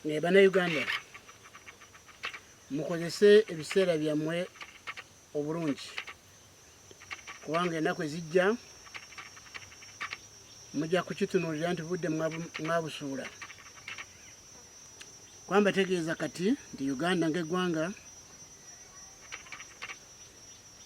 naye bannayuganda mukozese ebiseera byammwe obulungi kubanga ennaku ezijja mujja kukitunuulira nti budde mwabusuula kwamba tegeeza kati nti uganda ng'eggwanga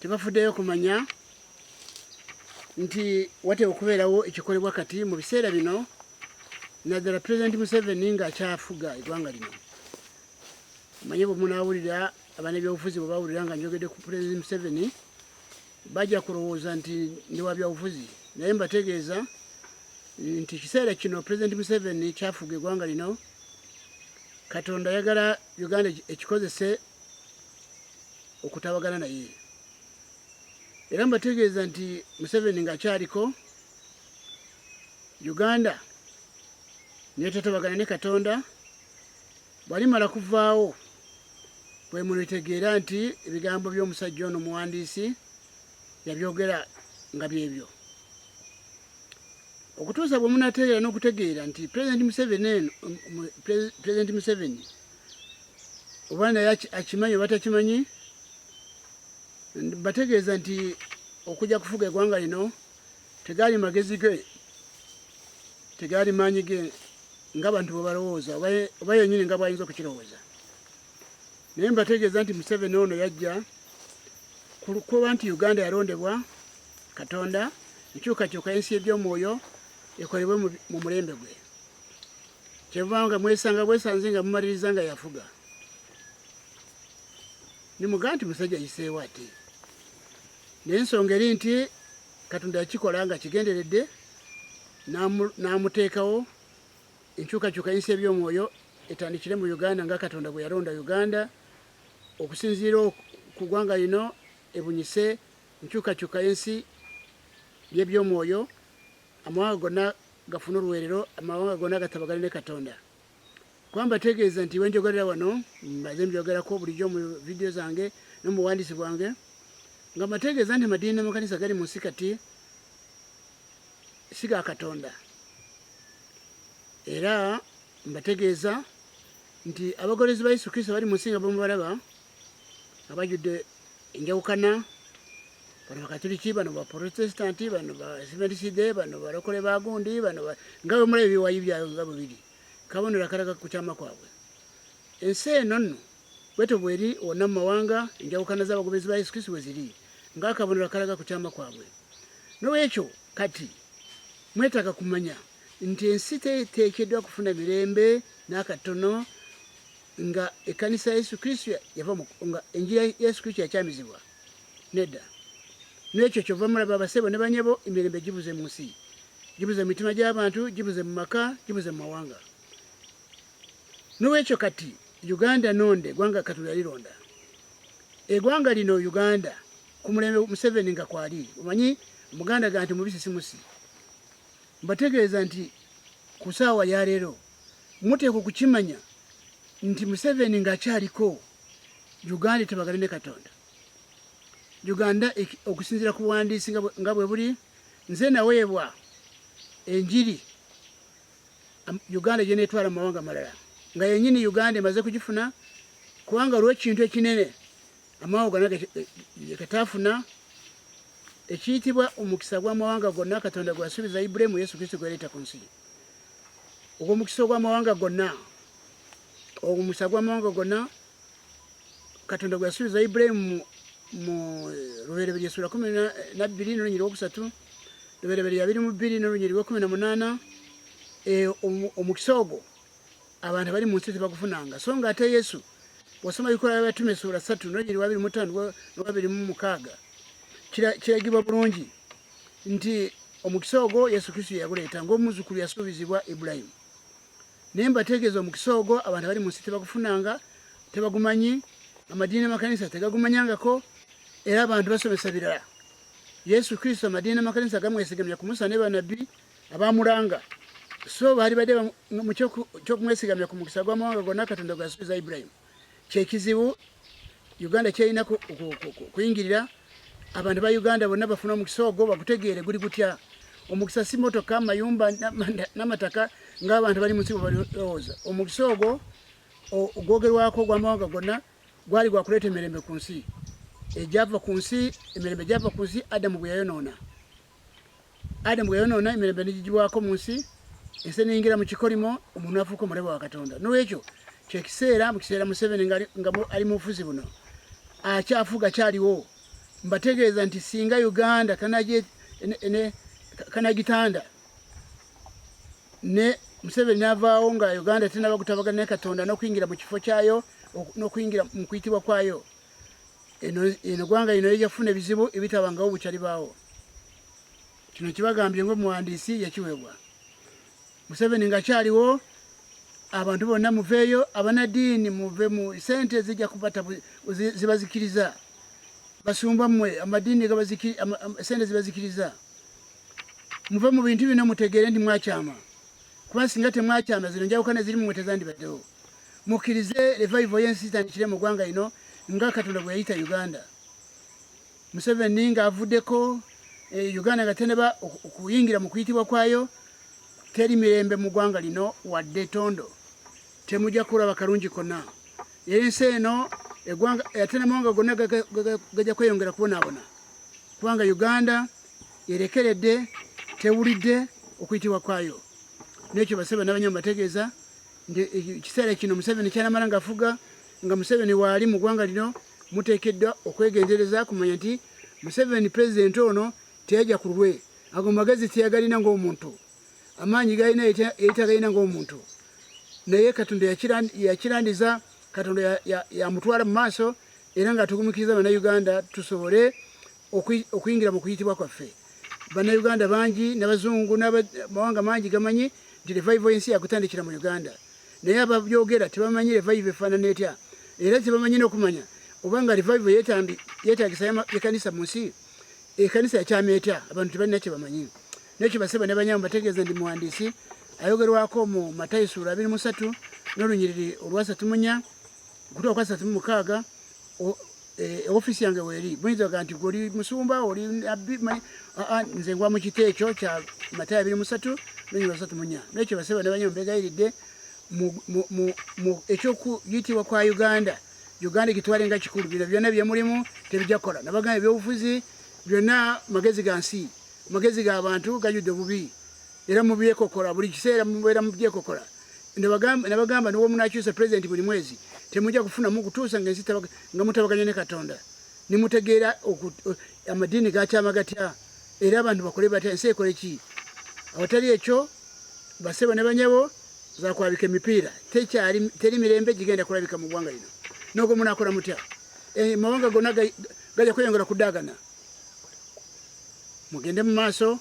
tebafuddeyo kumanya nti wateeka okubeerawo ekikolebwa kati mu biseera bino naddala pulezidenti museveni ng'akyafuga eggwanga lino manye bwe munaawulira abanebyobufuzi bwe bawulira nga njogedde ku pulezidenti museveni bajja kulowooza nti ndi wa byabufuzi naye mbategeeza nti ekiseera kino pulezidenti museveni kyafuga eggwanga lino katonda ayagala uganda ekikozese okutabagana naye era mbategeeza nti museveni ngaakyaliko uganda netatabagana ne katonda bwalimala kuvaawo bwemulitegeera nti ebigambo by'omusajja ono muwandiisi yabyogera nga byebyo okutuusa bwe munategeera n'okutegeera nti pulezidenti museveni eno pulezidenti museveni oba naye akimanyi oba takimanyi bategeeza nti okujja kufuga egwanga lino tegaali magezi ge tegaali maanyi ge nga bantu bwebalowooza oba yenyini nga bwayinza okukirowooza naye mbategeeza nti museveni ono yajja kuba nti uganda yalondebwa katonda enkyukakyuka ensi ebyomwoyo ekolebwe mu mulembe gwe kyeva nga mwesanga bwesanze nga mumaliriza nga yafuga nimuga nti musajja yiseewo ate naye ensonga eri nti katonda yakikola nga kigenderedde n'amuteekawo enkyukakyuka yinsi eby'omwoyo etandikire mu uganda nga katonda bwe yalonda uganda okusinziira ku ggwanga lino ebunyise enkyukakyuka y'ensi y'eby'omwoyo amawanga gonna gafuna oluweerero amawanga gonna gatabagane ne katonda kuba mbategeeza nti wenjogerera wano mbaze mbyogerako bulijjo mu vidiyo zange no mu buwandiisi bwange nga mbategeeza nti amadiini n'amakanisa gali mu nsi kati si ga katonda era mbategeeza nti abagolezi ba yesu kristo bali mu nsi nga bamubalaba nga bajjudde enjawukana bano bakatuliki bano baprotesitanti bano baseventiside bano balokole bagundi bano nga bemula ebiwayi byayo nga bwe biri kabonero akalaga ku kyama kwabwe ensi eno nno bwetyo bweri wonna mu mawanga enjawukana z'abagoberezi ba yesu kristo bwe ziri ng'akabonero akalaga ku kyama kwabwe nolwekyo kati mwetaaga kumanya nti ensi teekeddwa kufuna mirembe n'akatono nga ekanisa yesu kristo yava nga enjira yesu kristo yakyamizibwa nedda nekyo kyova mulaba abasebo ne banyabo emirembe gibuze mu nsi gibuze mu mitima gy'abantu gibuze mu maka gibuze mu mawanga nowekyo kati uganda nonde gwanga katonda yalironda egwanga lino uganda ku mulembe museveni nga kwali omanyi muganda ganti mubisi simusi mbategeeza nti ku saawa yaleero muteekwa okukimanya nti Museveni ng'akyaliko Uganda etabagane ne Katonda. Uganda okusinziira ku buwandiisi nga bwe buli nze naweebwa enjiri Uganda gyeneetwala mu mawanga amalala nga yenyini Uganda emaze kugifuna kubanga olw'ekintu ekinene amawanga gonna getafuna ekiyitibwa omukisa gw'amawanga gonna katonda gwasuubiza ibulayimu yesu kristo gwereeta ku nsi ogwo omukisa ogw'amawanga gonna omukisa gw'amawanga gonna katonda gweyasuubiza ibulayimu mu lubereberye sula kumi nabbiri nolunyi lwokusatu lubereberye abiri mu bbiri nolunyi lwekumi na munaana eh, omukisa ogwo abantu abali mu nsi tebagufunanga so nga ate yesu wasoma bikola byabatume suula satu nojiri wabiri mutano nowabiri mu mukaaga kiragibwa bulungi nti omukisa ogwo yesu kristo yaguleeta ngaomuzukulu yasuubizibwa ibulayimu naye mbategeeza omukisa ogwo abantu abali mu nsi tebagufunanga tebagumanyi amadiini amakanisa tegagumanyangako era abantu basomesa birala yesu kristo amadiini amakanisa gamwesigamya kumusa ne banabbi abamulanga so bali bade mukyokumwesigamya ku mukisa gwamawanga gonna katonda gwasubiza ibrahim kyekizibu uganda kyerina kuyingirira abantu ba uganda bonna bafuna omukisa ogwo bagutegeere guli gutya omukisa si motoka mayumba namataka ngaabantu bali munsi bwebalowooza omukisa ogwo ogwogerwako ogwamawanga gonna gwali gwakuleeta emirembe ku nsi egyava ku nsi emirembe gyava ku nsi adamu gwe yayonoona adamu bwe yonoona emirembe negigibwako mu nsi ensi neyingira mu kikolimo omuntu afuuka omulebe wa katonda nolwekyo kyekiseera mu kiseera museveni nga ali mu bufuzi buno akyafuga kyaliwo mbategeeza nti singa uganda kanagitanda ne museveni navaawo nga uganda tenaba gutabagana ne katonda nokuyingira mu kifo kyayo nokuyingira mu kuyitibwa kwayo eno gwanga ino eja kufuna ebizibu ebitabangawo bukyali baawo kino kibagambye ngaomuwandiisi yakiweebwa museveni nga kyaliwo abantu bonna muveeyo abanadiini muve mu sente zija kubata zibazikiriza basumba mmwe amadiini sente zibazikiriza muve mu bintu bino mutegeere nti mwakyama kuba singa temwakyama zino njawukana ziri mumwe tezandibaddewo Mukirize revival yensi itandikire mu gwanga ino nga Katonda bwe yayita Uganda. Museveni nga avudeko e, eh, Uganda nga teneba okuyingira mu kuyitibwa kwayo teri mirembe mu gwanga lino wadde tondo temuja kuraba kalungi kona era ensi eno egwanga ate namawanga gonna gaja kweyongera kubonabona kubanga Uganda erekeredde tewulidde okuyitibwa kwayo nekyo basebe nabanyama bategeeza nti ekiseera kino museveni kyanamala ngafuga nga museveni waali mu ggwanga lino muteekeddwa okwegendereza kumanya nti museveni pulezidenti ono teyajja ku lulwe ago magezi teyagalina ngaomuntu amaanyi galina eyitagalina ngaomuntu naye katonda yakirandiza katonda yamutwala mu maaso era nga tugumikiriza banauganda tusobole okuyingira mu kuyitibwa kwaffe bannayuganda bangi nabazungu namawanga mangi gamanyi nti revival yensi yakutandikira mu uganda naye ababyogera tebamanyi revival efaanana etya era tebamanyi nokumanya obanga revival yetagisa ekanisa mu nsi ekanisa yakyama etya abantu tebalina kyebamanyi nekyo baseba ne banyamu bategeeza ndi muwandiisi ayogerwako mu matayo suula abiri musatu n'olunyiriri olwasatu munya okutuuka kwasatu mu mukaaga Eh, ofisi yange weri muyinza oga nti goli musumba oli abbi manyi aa nze ngwa mu kiti ekyo kya matayo abiri musatu nonyi basatu munya nekyo baseba ne banyo mbegayiridde mu ekyokuyitibwa kwa uganda uganda egitwale nga kikulu bino byonna byemulimu tebijja kukola nabagana ebyobufuzi byonna magezi ga nsi magezi ga bantu gajudde obubi era mubyekokola buli kiseera mubeera mubyekokola nabagamba niwo munakyusa pulezidenti buli mwezi temujja kufunamu kutuusa nga ensi nga mutabaganya ne katonda nimutegeera amadiini gakyama gatya era abantu bakole batya ensi ekole ki awatali ekyo basebo ne banyabo zakwabika emipiira tekyali teri mirembe gigenda kulabika mu ggwanga lino nogo munakola mutya e, mawanga gona gajja kweyongera kudagana mugende mu maaso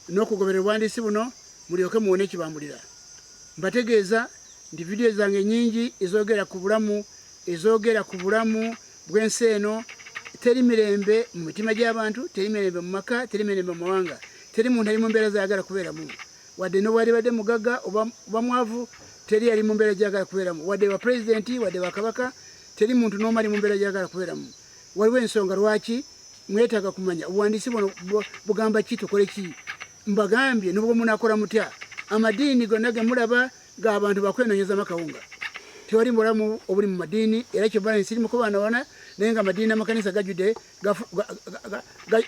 n'okugobera obuwandiisi buno mulyoke muwone ekibambulira mbategeeza nti vidiyo zange nyingi ezogera ku bulamu ezogera ku bulamu bw'ensi eno teri mirembe mu mitima gy'abantu teri mirembe mu maka teri mirembe mu mawanga teri muntu ali mu mbeera zayagala kubeeramu wadde nobwalibadde mugagga oba mwavu teri yali mu mbeera gyagala kubeeramu wadde bapulezidenti wadde bakabaka teri muntu n'omu ali mu mbeera gyagala kubeeramu Waliwo ensonga lwaki mwetaaga kumanya obuwandiisi buno bugamba ki tukole ki mbagambye nubwo munakola mutya amadiini gonna gemulaba ga abantu bakwenonyezama kawunga tewali mubulamu obuli mu madiini era kyobala ensi iri mukubanawana naye nga amadiini amakanisa gajude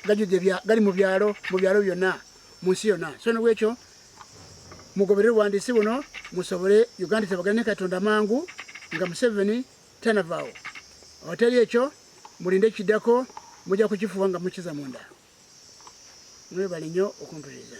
gajude gali mu byalo mu byalo byonna mu nsi yonna so nobwekyo mugoberere obuwandiisi buno musobole uganda tebagane katonda mangu nga museveni tanavaawo awatali ekyo mulinde kiddako mujja kukifuba nga mukiza munda mwebale nnyo okumpuliriza